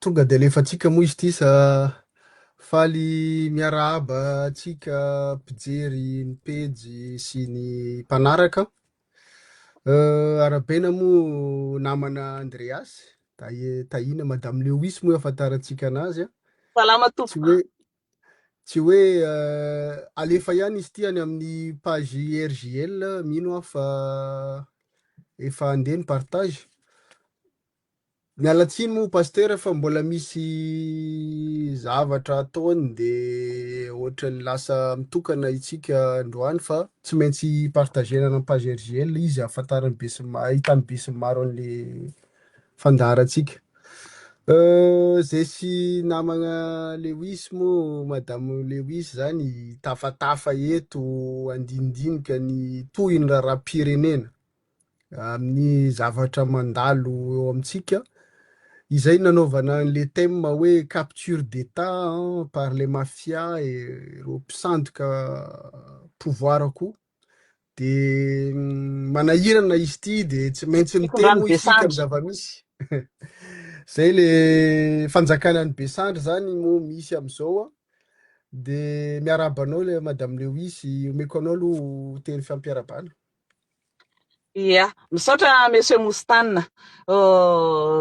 Tonga dia alefantsika moa izy ity sa? Faly miarahaba antsika mpijery ny pejy sy ny mpanaraka. Arahabaina moa namana Andreas, tahiana Madame Lewis moa ahafantarantsika anazy. Salama tompoko. Tsy hoe alefa ihany izy ity any amin'ny page RJL, mino aho fa efa andeha ny partage. Miala tsiny moa pasteur fa mbola misy zavatra ataony de ohatran'ny lasa mitokana itsika androany fa tsy maintsy partager-na amin'ny page RJL izy ahafantaran'ny be sy ny maro, ahitan'ny be sy ny maro an'le fandaharantsika. Zay sy namagna Lewis moa madame Lewis zany hitafatafa eto handinidinika ny tohiny raharaham-pirenena amin'ny zavatra mandalo eo amintsika. Izay nanaovana an'le thème hoe capture d'état par les mafias et ireo mpisandoka pouvoir koa de manahirana izy ity de tsy maintsy miteny moa isika amin'ny zava-misy zay le fanjakana ny besandry zany moa misy am'izao a de miarahaba anao le madame Lewis omeko anao aloha teny fampiarabana Ia, misaotra Monsieur Moustane.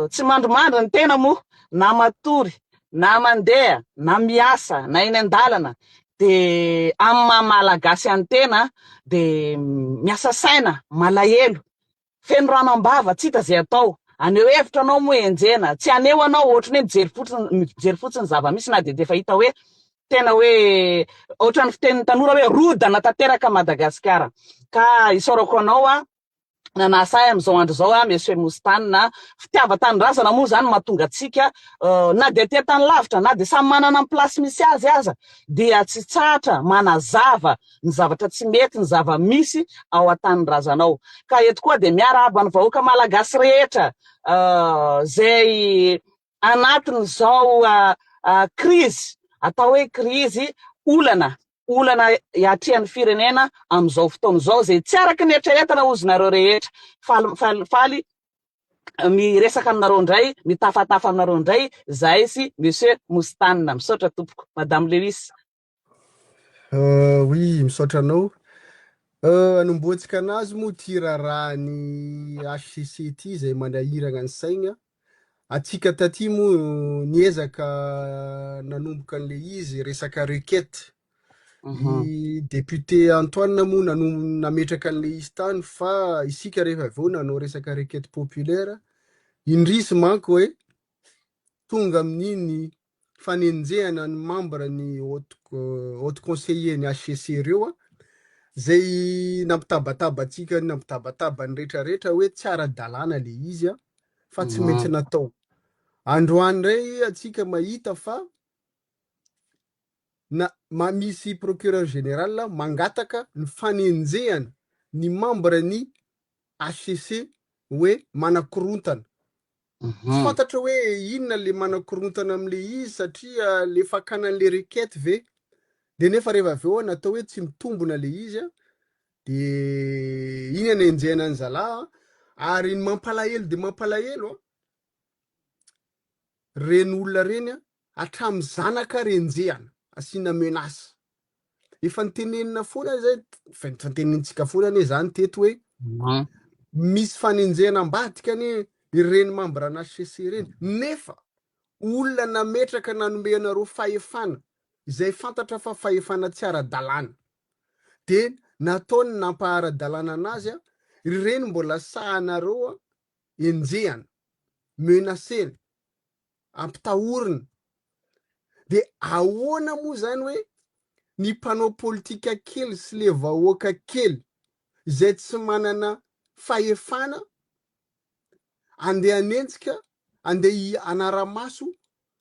Tsy mandrimandry ny tena moa na matory na mandeha na miasa na eny an-dalana dia amin'ny maha Malagasy an'ny tena dia miasa saina, malahelo, feno rano am-bava, tsy hita izay atao. Haneho hevitra anao moa enjehina, tsy haneho anao ohatry ny hoe mijery fotsiny mijery fotsiny zava-misy na dia dia efa hita hoe Tena hoe ohatran'ny fitenin'ny tanora hoe rodana tanteraka Madagasikara. Ka isaorako anao a, nanasa ahy amin'izao andro izao a, Monsieur Moustane a. Fitiavan-tanindrazana moa izany no mahatonga antsika na dia aty an-tany lavitra, na dia samy manana ny place misy azy aza, dia tsy tsahatra manazava ny zavatra tsy mety, ny zava-misy ao an-tanindrazanao. Ka eto koa dia miarahaba ny vahoaka Malagasy rehetra izay Anatin'izao krizy, atao hoe krizy, olana, olana iatrehan'ny firenena amin'izao fotoana izao izay tsy araka ny eritreretina hozy nareo rehetra. Faly, faly, faly miresaka aminareo indray, mitafatafa aminareo indray zahay sy Monsieur Moustane. Misaotra tompoko. Madame Lewis. Euh, oui, misaotra anao. Euh, anombohantsika anazy moa ty raharahan'ny HCC ty izay manahiragna ny saigna. Atsika taty moa niezaka nanomboka an'le izy resaka requête. Mhm. I député Antoine moa nanom- nametraka an'le izy tany fa isika rehefa avy eo nanao resaka requête populaire, indrisy manko hoe tonga amin'iny fanenjehana ny membre ny haute haute conseiller ny HCC reo a zay nampitabataba antsika nampitabataba ny rehetra rehetra hoe tsy ara-dalàna le izy a fa tsy maintsy Maro. natao androany ndray antsika mahita fa na ma- misy procureur général a, mangataka ny fanenjehana ny membre ny HCC hoe manakorontana Tsy fantatra hoe inona le manakorontana amle izy satria le fakana anle requête ve de nefa reva avy eo natao hoe tsy mitombona le izy a de iny anenjehana any zala a ary ny mampalahelo de mampalahelo a reny olona reny a Hatramin'ny zanaka renjehana, asiana menace. Efa notenenina foana izay, efa notenenintsika foana anie izany teto hoe misy fanenjehana ambadika anie ireny membres-na HCC ireny, nefa olona nametraka nanome anareo fahefana, izay fantatra fa fahefana tsy ara-dalàna, dia nataony nampaha-ara-dalàna an'azy, ry ireny mbola sahanareo enjehana, menacer-na. ampitahorina. Dia ahoana moa izany hoe ny mpanao politika kely sy ilay vahoaka kely izay tsy manana fahefana andeha hanenjika, andeha hanara-maso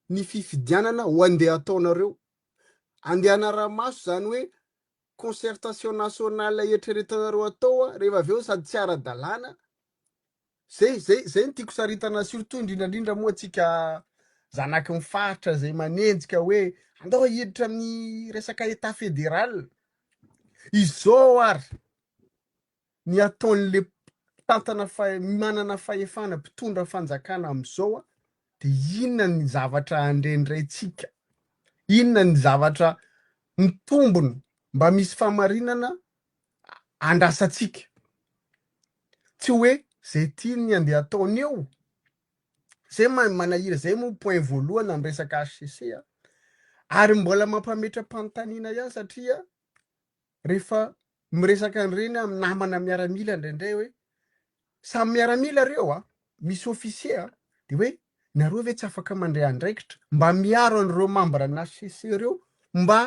ny fifidianana ho andeha ataonareo. Andeha hanara-maso izany hoe concertation nationale eritreretanareo atao a, rehefa avy eo sady tsy ara-dalàna, zay zay zay no tiako saritana surtout indrindra indrindra moa antsika zanaky ny faritra zay manenjika hoe andao hiditra amin'ny resaka Etat fédéral, izao ary ny ataon'ilay mpitantana manana fahefana mpitondra fanjakana amin'izao dia inona ny zavatra andrendraintsika? Inona ny zavatra mitombona mba misy famarinana andrasantsika? Tsy hoe izay tiany andeha ataony eo. Izay manahira izay moa point voalohany amin'ny resaka HCC. Ary mbola mampametra-panontaniana ihany satria Rehefa miresaka an'ireny aho amin'ny namana miaramila indraindray hoe samy miaramila ireo a, misy ofisier a, dia hoe nareo ve tsy afaka mandray andraikitra mba miaro an'ireo membre-n'ny HCC ireo mba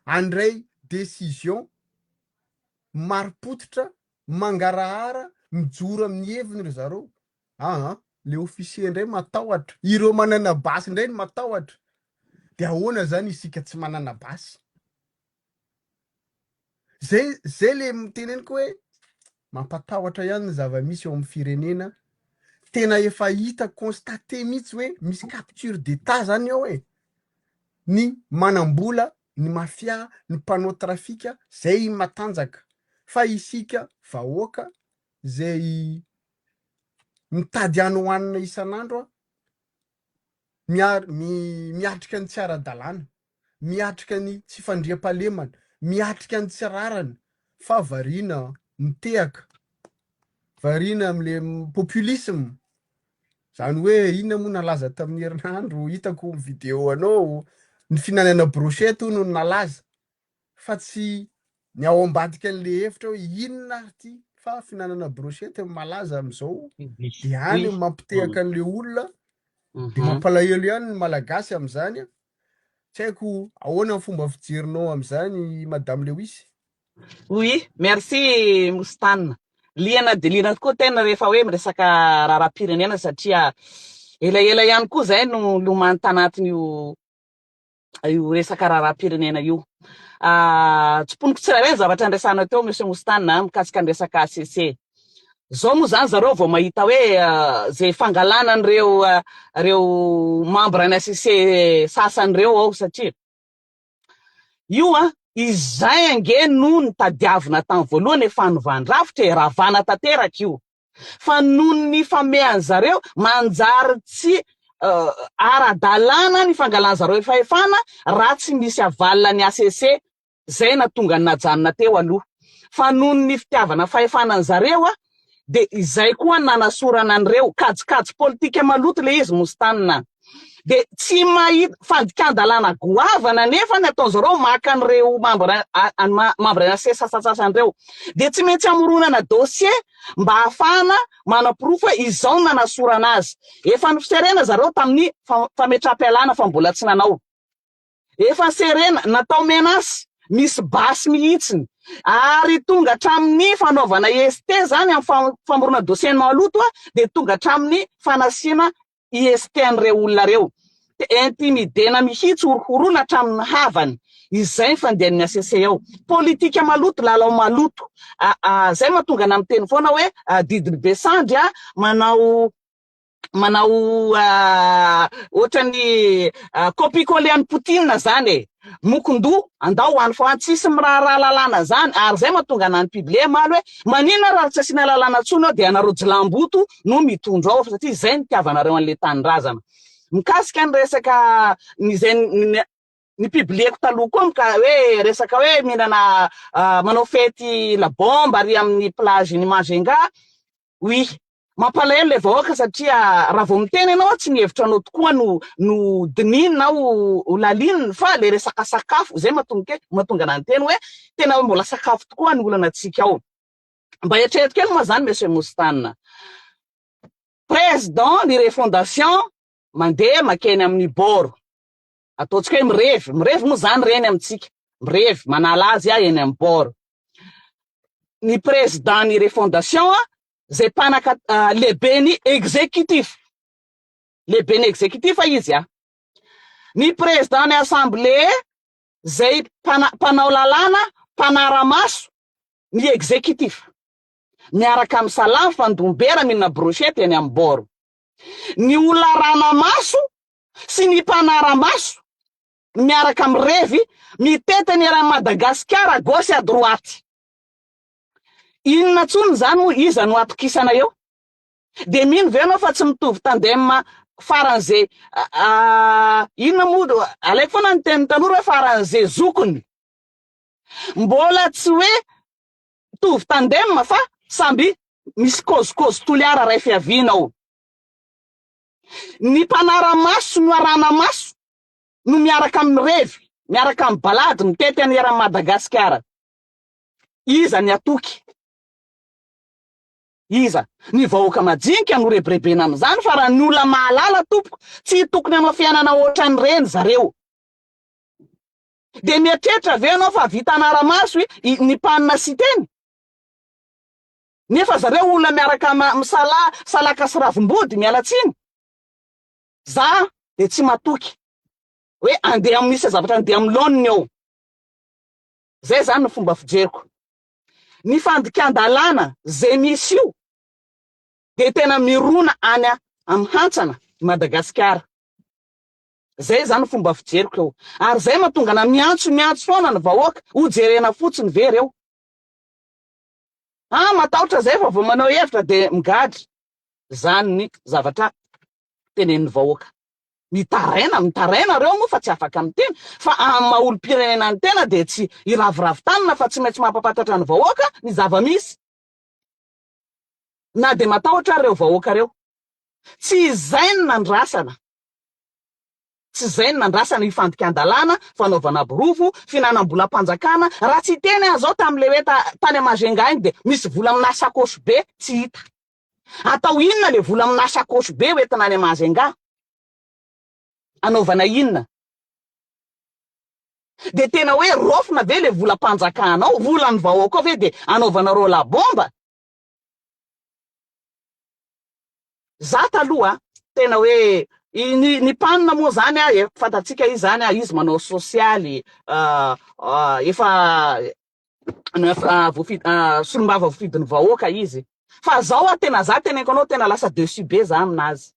handray décision marim-pototra, mangarahara, mijoro amin'ny heviny ry zareo aa, ilay ofisier indray matahotra, ireo manana basy indray no matahotra, dia ahoana izany isika tsy manana basy? Zay zay le teneniko hoe mampatahotra ihany ny zava-misy eo amin'ny firenena, tena efa hita constaté mihitsy hoe misy capture d'état zany ao e, ny manam-bola, ny mafia, ny mpanao trafika zay matanjaka fa isika vahoaka zay mitady any ho hanina isan'andro miatrika ny tsy ara-dalàna, miatrika ny tsy fandriampahalemana, miatrika ny tsy rariny fa variana mitehaka, variana amin'le populisme, zany hoe inona moa nalaza tamin'ny herinandro, hitako vidéo anao, ny fihinanana brochette hono no nalaza. fa tsy ny ao ambadika an'le hevitra hoe inona ary ty fa fihinanana brochette no malaza amin'izao dia any no mampitehaka an'le olona dia mampalahelo ihany ny malagasy amin'izany a! tsy haiko ahoana ny fomba fijerinao amin'izany madame Lewis? Oui, merci Mostana. Liana dia liana tokoa tena rehefa hoe miresaka raharaham-pirenena satria elaela ihany koa izay no lomany tanatin'io io resaka raharaham-pirenena io. Ah, tsimponiko tsirairay ny zavatra andraisanao teo Monsieur Moustane ah, mikasika ny resaka ACC. Zao moa zany zareo vao mahita hoe ah, zay fangalana an'ireo ah, reo membre ny ACC sasany reo ao satria io ah, izay ange no nitadiavina tamin'ny voalohany e, fanovàn-drafitra e, ravàna tanteraka io. fa noho ny famehan'ny zareo manjary tsy ara-dalàna ny fangalan'ny zareo fahefana raha tsy misy avalina ny HCC, izay natonga ny najanona teo aloha. Fa noho ny fitiavana fahefana ny zareo a, dia izay koa ny nanasorana an'ireo, kajikajy politika maloto ilay izy Mostane a. dia tsy mahita fandikan-dalàna goavana anefa ny ataon'izy ireo maka an'ireo mambra mambra NACC sasantsasany ireo. Dia tsy maintsy amoronana dossier mba hahafahana manaporofo hoe izao no nanasorana azy. Efa noserena zareo tamin'ny fametraham-pialana fa mbola tsy nanao. Efa serena, natao menace, misy basy mihitsiny. Ary tonga hatramin'ny fanaovana ST izany amin'ny famoronana dossier-n'ny maloto dia tonga hatramin'ny fanasiana IST an'ireo olona ireo, dia intimidena mihitsy, horohoroina hatramin'ny havany, izay ny fandian'ny HCC ao. Politika maloto, lalao maloto, izay no mahatonga anà miteny foana hoe adidin'i be sandry a, manao manao ohatran'ny copie-coller an'i Poutine izany e! Mokon-doha, andao any fa any tsisy miraharaha lalàna zany ary zay mahatonga anah nipible maly hoe maninona raha tsy asiana lalàna tsony ao dia anareo jilamboto no mitondra ao fa satria zay ny tiavanareo anle tanindrazana. Mikasika ny resaka ny zay nipibleko taloha koa mika hoe resaka hoe mihinana manao fety la bombe ary amin'ny plage ny Majunga Oui. Mampalahelo ilay vahoaka satria raha vao miteny ianao tsy ny hevitra anao tokoa no no dinihiny na ho ho lalininy fa ilay resaka sakafo izay matonga ahy matonga anah niteny hoe tena hoe mbola sakafo tokoa ny olana antsika ao. Mba eritrereto kely moa izany Monsieur Moustane. Président ny refondation mandeha makeny amin'ny bord. ataontsika hoe mirevy, mirevy moa izany ireny amintsika, mirevy, manala azy aho eny amin'ny port. Ny président ny refondation, izay mpanaka uh, lehibe ny exécutif, lehibe ny exécutif izy ah. Ny président ny assemblée, izay mpanao lalàna, mpanaramaso ny exécutif. Miaraka amin'ny salam fandombera minna brochette eny amin'ny bord. Ny olona ranamaso sy ny mpanara-maso miaraka amin'ny revy mitety ny eran'i Madagasikara à gauche et à droite. Inona intsony izany moa? Iza no atokisana eo? Dia mino ve ianao fa tsy mitovy tandem faran'izay inona moa? Alaiko foana ny tenin'ny tanora hoe faran'izay zokiny. Mbola tsy hoe mitovy tandem fa samby misy kôzikôzy toliara iray fiaviana ao. Ny mpanara-maso no arahana maso no miaraka amin'ny revy, miaraka amin'ny balady mitety an'i eran'i Madagasikara. Iza ny hatoky? Iza? Ny vahoaka majinika no rebirebena amin'izany fa raha ny olona mahalala tompoko tsy tokony hanao fiainana ohatran'ireny zareo. Dia mieritreritra ve ianao fa vita hanara-maso i Nipane Siteny? Nefa zareo olona miaraka misala salaka sy ravimbody miala tsiny za de tsy matoky hoe andeha amin'ny seza zavatra andeha amin'ny laoniny eo zay zany ny fomba fijeriko ny fandikan-dalàna ze misy io de tena mirona any amin'ny hantsana i Madagasikara zay zany fomba fijeriko eo ary zay matongana miantso miantso foana ny vahoaka ho jerena fotsiny ve reo Ah matahotra zay fa vao manao hevitra de migadra, zany ny zavatra tenenin'ny vahoaka. Mitaraina, mitaraina reo moa fa tsy afaka miteny fa amin'ny maha olompirenena ny tena de tsy hiraviravy tanana fa tsy maintsy mampapatatra ny vahoaka ny zava-misy. Na de matahotra ary reo vahoaka reo. Tsy izay no nandrasana. Tsy izay no nandrasana io fandikan-dalàna, fanaovana borofo, fihinanam-bolam-panjakana, raha tsy hiteny aho izao tamin'ilay hoe tany Majunga iny dia misy vola aminà sakaosy be tsy hita. Atao inona ilay vola aminà sakaosy be hoentina any Majunga? Anaovana inona? Dia tena hoe raofina ve ilay volam-panjakana ao, volan'ny vahoaka ao ve dia anaovana roll-à-bombe? Za taloha tena hoe ny ny pan moa zany a e fantatsika izy zany a izy manao sosialy efa solombava vofidin'ny vahoaka izy fa zao a tena za teneniko anao tena lasa dessus be za aminazy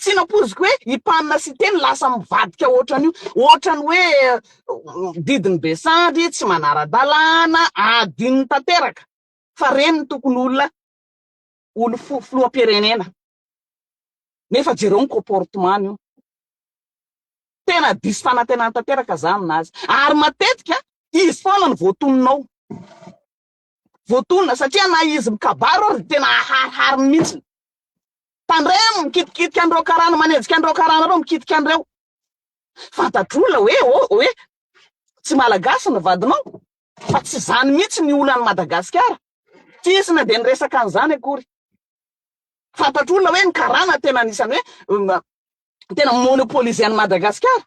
tsy nampoiziko hoe i pan sy teny lasa mivadika ohatran'io ohatran'ny hoe didin'ny besandry tsy manara-dalàna adinony tanteraka fa reny no tokony olona olo filohampirenena nefa jereo ny comportement ny io tena diso fanantenana tanteraka za aminazy ary matetika izy foana no voatonona ao voatonona satria na izy mikabaro ary tena aharihariny mihitsy tandremo mikitikitika an'ireo karana manenjika an'ireo karana ireo mikitika an'ireo fantatr'olona hoe hoe tsy malagasy ny vadinao Fa tsy izany mihitsy ny olan'i Madagasikara. Tsy hisy na dia ny resaka an'izany akory. Fantatr'olona hoe ny karana tena anisan'ny hoe tena monopoliser an'i Madagasikara.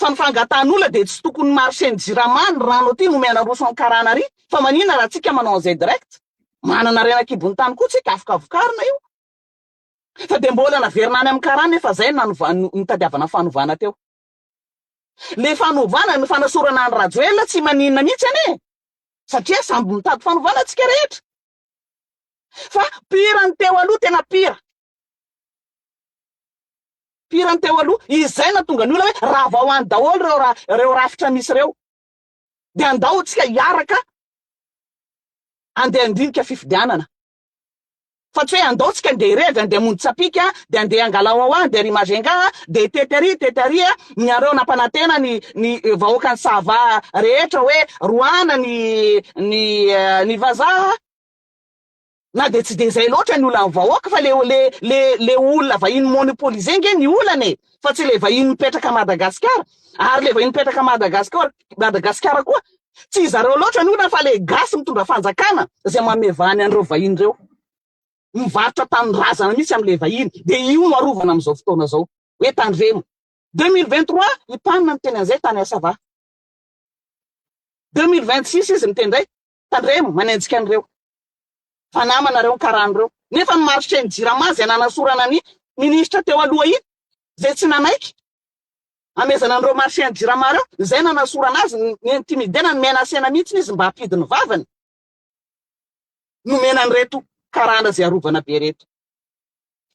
Fa ny fangatahan'olona dia tsy tokony marché ny jirama, ny rano aty nomena aroso an'i karana ary. Fa maninona raha tsika manao an'izay direct. Manana harena an-kibon'ny tany koa tsika afaka vokarina io. Fa dia mbola naverina any amin'ny karana efa izay nanova, nitadiavana fanovana teo. Le fanovana no fanasorana an Rajoelina tsy maninona mihitsy anie satria samby mitady fanovana tsika rehetra fa pire ny teo aloha tena pire pire ny teo aloha izay natonga ny olona hoe rava ho any daholo reo ra reo rafitra misy reo de andao tsika hiaraka andeha andinika fifidianana Fa tsy hoe andao tsika ndeha irevy andeha hamonjy tsapika dia andeha angalao ao any dia ry Majunga a dia hitety ary tety ary a niareo nampanantena ny ny vahoakan'i Sava rehetra hoe roahana ny ny ny vazaha na dia tsy dia izay loatra ny olan'ny vahoaka fa le le le le olona vahiny monopoliser nge ny olana e fa tsy le vahiny mipetraka Madagasikara ary le vahiny mipetraka Madagasikara Madagasikara koa Tsy izareo loatra ny olana fa le gasy mitondra fanjakana zay mamevany an'ireo vahiny reo. Mivarotra tanindrazana mihitsy amle vahiny de io no arovana amzao fotoana zao hoe tandremo. Deux mille vingt trois i Pan niteny anzay tany Assava. Deux mille vingt six izy miteny ndray tandremo manenjika an'ireo fa namana reo ny karany reo. Nefa ny marché ny jirama zay nanasorana ny ministra teo aloha iny zay tsy nanaiky. Amezana an'ireo marchiens jirama ireo, izay nanasorana azy, ni-intimider-na, nomena asena mihitsy izy mba hampidiny ny vavany, nomena an'ireto karana izay arovana be ireto.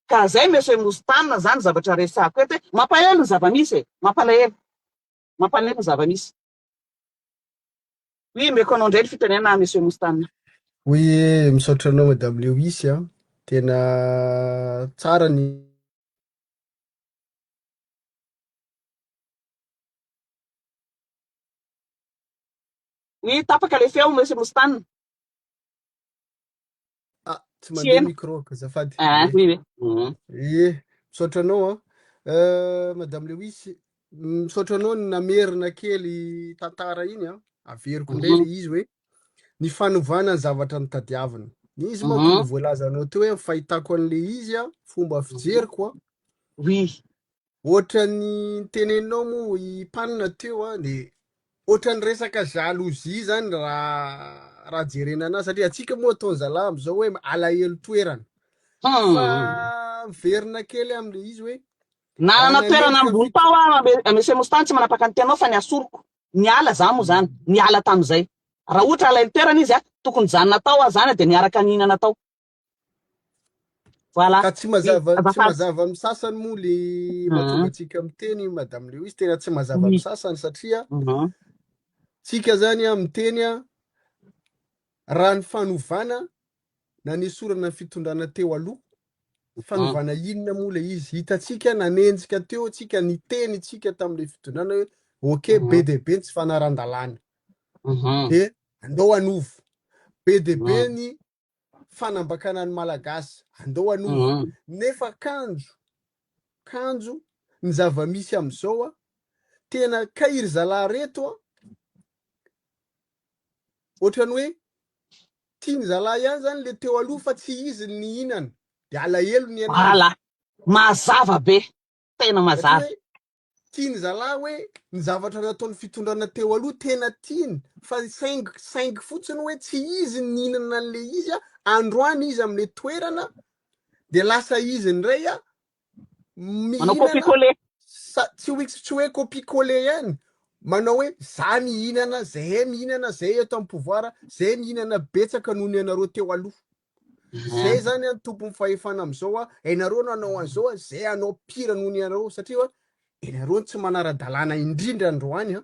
Ka izay Monsieur Moustane, izany zavatra resahako eto hoe, mampalahelo ny zava-misy e! Mampalahelo. Mampalahelo ny zava-misy. Oui, omeko anao indray ny fitenenana Monsieur Moustane. Oui, misaotra anao Madame Lewis a! Tena tsara ny. Oui tapaka le feo monsieur Moustane. Ah, tsy mandeha micro ka zafady. Ah, oui oui. Mhm. Ye, misaotra anao a. Euh, Madame Lewis, misaotra anao ny namerina kely tantara iny a. Averiko indray mhm. le izy hoe ny fanovana ny zavatra notadiaviny. Ny izy manko no voalaza anao teo hoe fahitako an'le izy a, fomba fijeriko a. Oui. Ohatran'ny niteneninao moa i Panina teo a, de ohatran'ny resaka jalousie zany raha raha jerena anazy satria antsika moa ataon'ny zalahy am'zao hoe alahelo toerana. Fa miverina kely am'le izy hoe. Nanana toerana ambony tao aho, Monsieur Moustany tsy manapaka ny tianao fa ny asoroko. Niala za moa zany, niala tamizay. Raha ohatra alainy toerana izy a, tokony zany natao a, zany a dia miaraka nihinana tao. Voilà. Ka tsy mazava tsy Azafady. mazava amin'ny sasany moa le Mhm. mahatonga antsika miteny Madame Lewis, tena tsy mazava Oui. amin'ny sasany satria Mhm. tsika zany a miteny a raha ny fanovana nanesorana ny fitondrana teo aloha, fanovana inona moa ilay izy? Hitantsika, nanenjika teo antsika, niteny isika tamin'ilay fitondrana hoe ok, be dia be ny tsy fanaran-dalàna, dia andao hanovo. Be dia be ny fanambakana ny Malagasy, andao hanovo. Nefa kanjo, kanjo ny zava-misy amin'izao, tena kay ry zalahy ireto, ohatran'ny hoe Tiany zalahy ihany zany le teo aloha fa tsy izy ny nihinana. De alahelo ny anao. Ala! Mazava be! Tena mazava. Tiany zalahy hoe ny zavatra nataony fitondrana teo aloha tena tiany fa saingy saingy fotsiny hoe tsy izy ny nihinana anle izy androany izy amle toerana de lasa izy ndray Manao copie coller. Tsy hoe tsy hoe copie coller ihany, manao hoe za mihinana, zahay mihinana, zahay eto amin'ny pouvoir, zahay mihinana betsaka noho ny anareo teo aloha. Zay zany an tompon'ny fahefana amizao a, ianareo no hanao an'izao a, zay hanao pire noho ny anareo satria ianareo no tsy manara-dalàna indrindra androany an.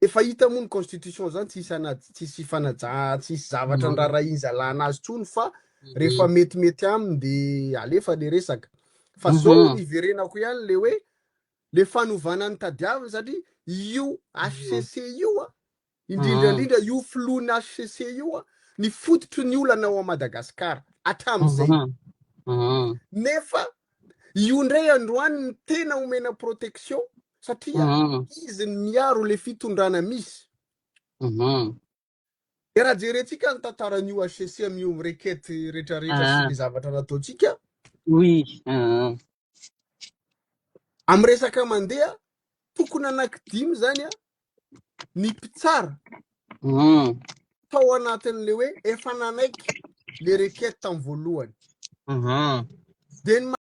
Efa hita moa ny constitution zany tsisy anad tsisy fanaja tsisy zavatra nirarahin zalah anazy tsony fa rehefa metimety aminy de alefa le resaka fa zao mhm. niverenako ihany le hoe le fanovana ny tadiaviny satria io HCC io a indrindraindrindra mhm. io filohan'ny HCC io a ny fototry ny olana ao a Madagascar hatramin'izay mhm. nefa io ndray androany ny tena omena protection satria Mhm. izy ny miaro le fitondrana misy. Mhm. De raha jerentsika ny tantaran'io HCC amin'io rekety rehetrarehetra sy Ah. ny zavatra nataontsika, Oui. Ah. amin'ny resaka mandeha, tokony anankidimy zany a, ny mpitsara Mhm. tao anatin'le hoe efa nanaiky le rekety tamin'ny voalohany. Mhm. De ny